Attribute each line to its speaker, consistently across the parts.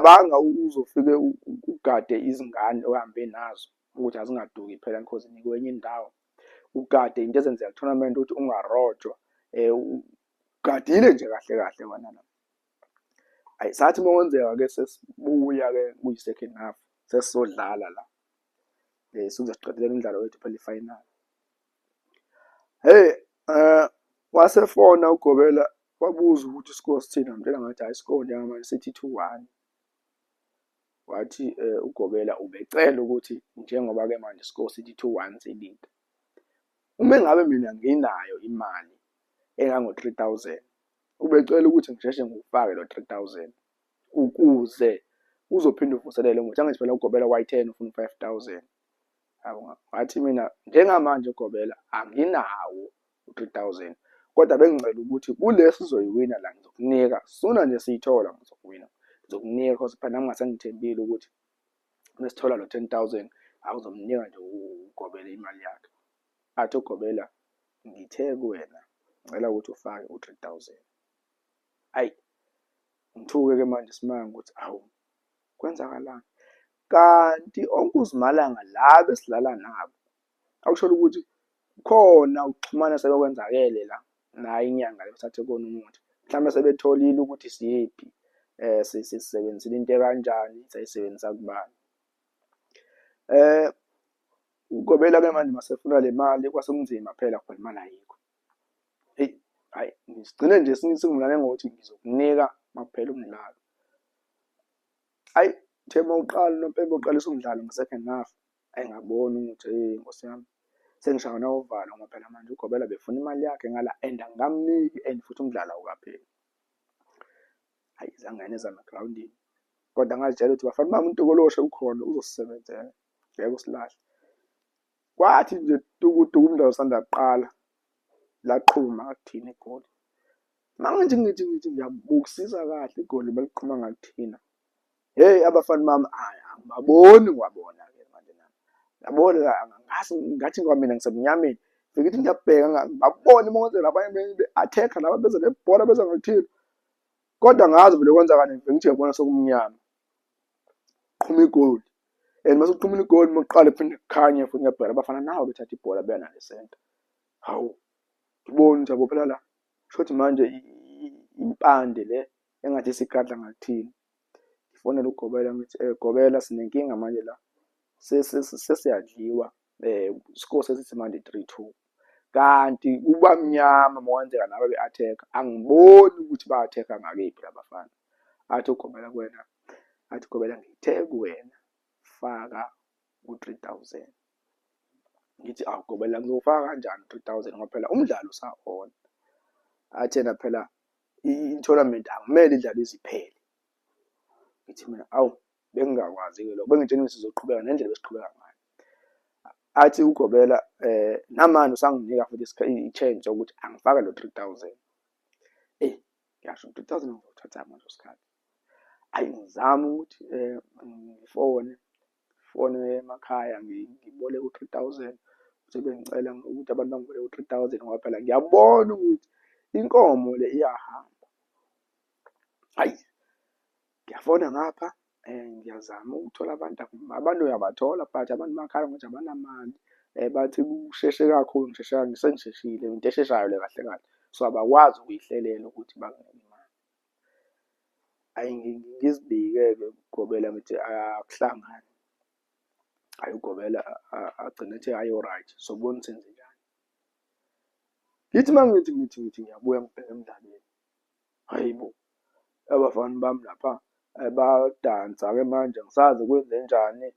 Speaker 1: Banga uzofike ugade izingane ohambe nazo ukuthi azingaduki phela because nikwenye indawo ugade into ezenzeka tournament ukuthi ungarojwa eh ugadile nje kahle kahle wena la ayi sathi uma kwenzeka ke sesibuya ke kuyi second half sesizodlala la eh sizoqedela umdlalo wethu phela ifinal Hey eh wasefona uGobela wabuza ukuthi isikole sithini ngamtshela ngathi hhayi isikole njengamanje sithi two one. Wathi uGobela ubecela ukuthi njengoba-ke manje isikole sithi two one silinde. Uma ngabe mina nginayo imali engango-three thousand, ubecela ukuthi ngisheshe ngiwufake lo three thousand ukuze uzophinde uvuselele ngokuthi angithi phela uGobela wayi-ten ufuna u-five thousand. ngathi mina njengamanje gobela anginawo u-3000 kodwa bengicela ukuthi kulesi zoyiwina la ngizokunika sona nje siyithola ngizokuwina ngizokunika cause phela nami ngasengithembile ukuthi mesithola lo 10000 awuzomnika nje ugobela imali yakhe athi ugobela ngithe kuwena ngicela ukuthi ufake u-3000 ayi ngithuke ke manje simanga ukuthi awu kwenzakalani kanti onkuzimalanga laba esilala nabo akusholo ukuthi khona ukuxhumana sebekwenzakele la nayo inyanga yokuthathe kona umuthi mhlawumbe sebetholile ukuthi siyiphi eh sisebenzisile into kanjani sayisebenzisa kubani eh ugobela ke manje masefuna le mali kwasekunzima phela khona imali ayikho hayi ngisigcine nje singumlane ngokuthi ngizokunika makuphela umdlalo hayi uthe uma uqala unompempe uqalisa umdlalo nge-second half ayi ngabona ukuthi eyi nkosi yami sengishawa nawovalo ngoba phela manje ugobela befuna imali yakhe ngala and angamniki and futhi umdlalo awukapheli hayi zangane zami egrawundini kodwa ngazitshela ukuthi bafana bami untokoloshe ukhona uzosisebenzela ngeke usilahle kwathi nje tukutuku umdlalo usanda kuqala laqhuma kuthina igoli manje ngithi ngithi ngiyabukisisa kahle igoli beliqhuma ngakuthina hey abafana bami angibaboni ngwabona ke manje nami yabona ngathi ngathi ngwamina ngisemnyameni ngithi ngiyabheka ngabona imongozela abanye be-attack laba beze nebhola beze ngakuthina kodwa ngazi vele kwenzakani ngithi yabona sokumnyama qhuma igoli and mase uqhumula igoli muqale phinde kukhanye futhi ngiyabheka abafana nawo bethatha ibhola beya nale center hawu ngibona ukuthi abophela la shothi manje impande le engathi sigadla ngakuthini ngifonela ugobela ngithi eh gobela sinenkinga manje la sesiyadliwa eh score sesithi manje 3-2 kanti kuba mnyama mawenzeka naba be attack angiboni ukuthi ba attack ngakephi labafana athi ugobela kuwena athi ugobela ngithe kuwena faka ku 3000 ngithi awugobela ngizofaka kanjani 3000 ngoba phela umdlalo usahona athena phela i-tournament akumele idlalo iziphele ngithi mina awu Bengingakwazi-ke lokho, bengitshena ukuthi sizoqhubeka nendlela ebesiqhubeka ngayo. Athi ugobela um namanje usanginika futhi i-change yokuthi angifake lo three thousand. Eyi ngisho three thousand ngizothatha ngaleso sikhathi. Ayi ngizame ukuthi um ngifone, fone emakhaya ngiboleke u-three thousand sebengicela ukuthi abantu bangiboleke u-three thousand ngoba phela ngiyabona ukuthi inkomo le iyahamba. Ayi ngiyafona ngapha um ngiyazama ukuthola abantu abantu uyabathola but abantu bakhala ngokuthi abanamali um bathi kusheshe kakhulu ngisheshe sengisheshile into esheshayo le kahle kahle so abakwazi ukuyihlelela ukuthi banginike imali ayi ngizibike-ke ugobela ngithi akuhlangani ayi ugobela agcine ethi ayi oright sobona senze njani ngithi uma ngithi ngithi ngithi ngiyabuya ngibheke emdlalweni Hhayi bo! Abafana bami lapha bayadansa-ke manje angisazi kwenzenjani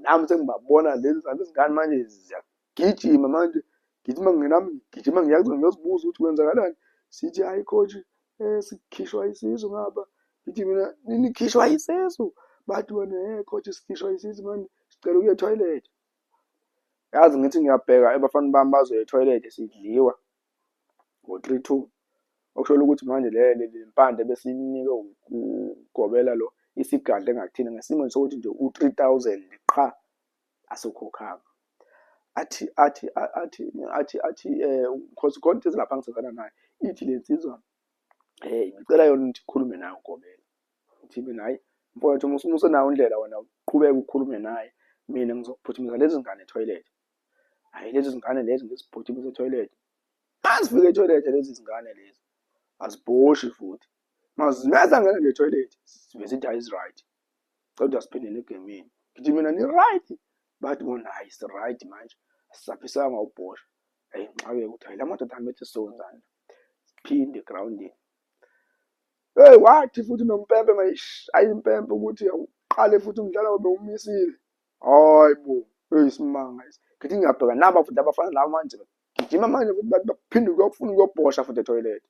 Speaker 1: nami sengibabona leli zabe izingane manje ziyagijima manje ngigijima nami ngigijima ngiya kuzona ngiyozibuza ukuthi kwenzakalani, zithi hhayi coach sikhishwa isisu ngapha, ngithi mina nikhishwa isisu? Bathi bona hhe coach sikhishwa isisu mani sicela ukuya ethoyilethi. Yazi ngithi ngiyabheka ebafana bami bazoya ethoyilethi sidliwa. ngo-3-2 okushola ukuthi manje le mpande besiyinikwe ugobela lo isigadle ngathina ngesimweni sokuthi nje u-3000 qha asokhokhanga athi athi athi athi athi um khosi khona into ezilapha ngisebenzana nayo ithi le nsizwa um ngicela yona ukuthi ikhulume nayo ugobela ukuthi mina hhayi mfowethu uma usenawo indlela wena uqhubeke ukhulume naye mina ngizokuphuthumisa lezi ngane ethoyilethi hayi lezi zingane lezi ngizibhuthi kwisetoyilethi azifike etoilet lezi zingane lezi azibhoshi futhi mazineza ngena nje etoilet sibe sithi ayiziright kodwa siphinde negemini ngithi mina ni-right bathi bona hayi si-right manje sisaphisanga ubhosha hayi ngixake ukuthi hayi la madoda ami ethi sonzana siphinde egroundini hey wathi futhi nompempe mayish ayimpempe ukuthi uqale futhi umdlalo wabe umisile hayi bo eyisimanga esi ngithi ngiyabheka naba futhi abafana laba manje gijima manje futhi bathi baphinde ukuyofuna ukuyobhosha futhi etoilet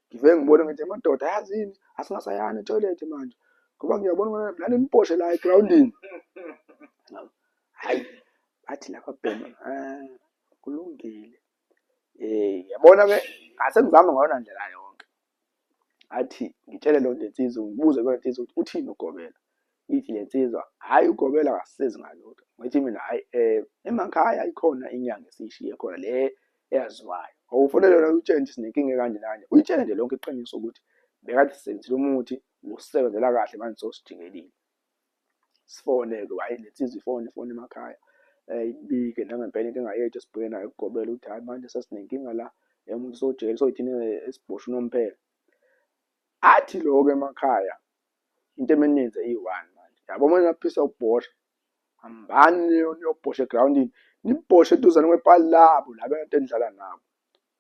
Speaker 1: ngivele ngibone ngithi amadoda ayazini asingasayani etoilet manje ngoba ngiyabona ukuthi mhlawumbe nimbhoshe la egroundini hayi bathi laba bhema ah, kulungile Eh yabona ke ngase ngizama ngayona ndlela yonke. Athi ngitshele lo lensizwa ngibuze kule nsizwa ukuthi uthini ugobela. Ithi le nsizwa hayi ugobela akasizi ngalutho. Ngithi mina hayi eh emakhaya ikhona inyanga esishiye khona le eyaziwayo. Awufanele yona utshele nje sinenkinga kanje kanje. Uyitshele nje lonke iqiniso ukuthi bekade sisebenzile umuthi usebenzela kahle manje sosijikelile. sifone-ke hhayi le nsizwa ifone ifone emakhaya um ibike nangempela inkinga yethu esibheke nayo ukugobela ukuthi hhayi manje sesinenkinga la emuntu usojele soyithina esibhosha unomphela athi loko emakhaya into emeninze iyi-one manje yabo uma naphisa ukubhosha hambani niyobhosha egrawundini nibhoshe eduzane kwepali labo laba nto enidlala nabo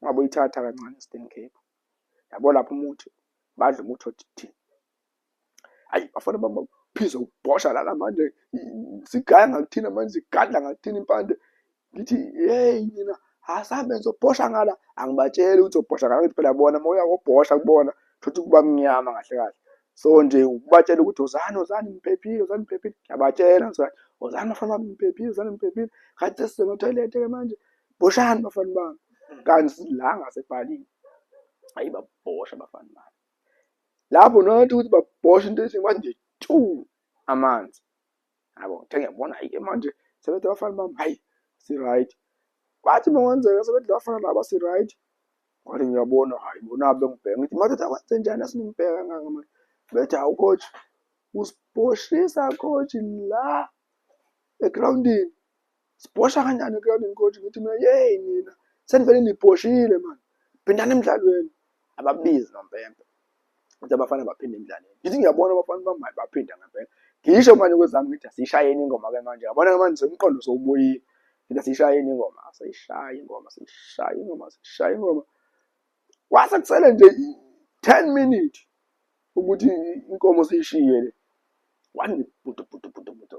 Speaker 1: Ungabe uyithatha kancane Eastern Cape. Yabo lapho umuthi badla umuthi othi ayi bafana baba phizwe ubhosha lana manje sigaya ngakuthina manje sigadla ngakuthina impande ngithi hey nina asambe ngizobhosha ngala angibatsheli ukuthi ubhosha ngala ngithi phela bona moya wobhosha kubona thothi kuba mnyama kahle kahle so nje ukubatshela ukuthi uzani uzani ngiphephile uzani ngiphephile ngiyabatshela ngizani uzani bafana bami ngiphephile uzani ngiphephile khathi sisema toilet ke manje boshani bafana bami kanti la ngasebhalini ayi babhosha bafana bami lapho nothi ukuthi babhosha into ethi manje tu amanzi yabo ngiyabona ayike manje sebethi bafana bami hayi si right kwathi mawenzeka sebethi bafana laba si right kwathi ngiyabona hayi bona bengibheka ngithi madoda kwenze njani asinibheka nganga manje bethi hawu coach usiboshisa coach la egroundini sibhosha kanjani egroundini coach ngithi mina yeyi nina senivele nibhoshile mani phindani emdlalweni ababizi nompempe ukuthi abafana baphinde emdlalweni ngithi ngiyabona abafana bamayi baphinda ngempela ngisho manje kwezami ngithi asiyishayeni ingoma ke manje yabona ke manje umqondo sowubuyile ngithi asiyishayeni ingoma asiyishaye ingoma asiyishaye ingoma asiyishaye ingoma kwase kusele nje 10 minutes ukuthi inkomo siyishiye le wani budu budu budu budu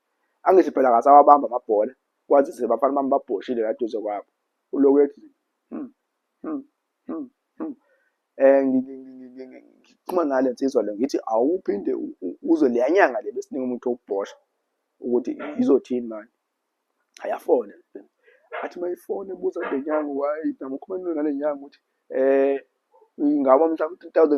Speaker 1: angithi phela ngasawabamba amabhola kwazise bafana bami babhoshile la duze kwabo uloku ethi hmm, hmm, hmm, hmm. eh ngixhuma nale nsizwa le ngithi awuphinde uzo leyanyanga le besiningi umuntu okubhosha ukuthi izothini manje ayafona athi mayifone ebuza le nyanga wayi namukhulumela nale nyanga ukuthi eh ingaba mhla ku-2000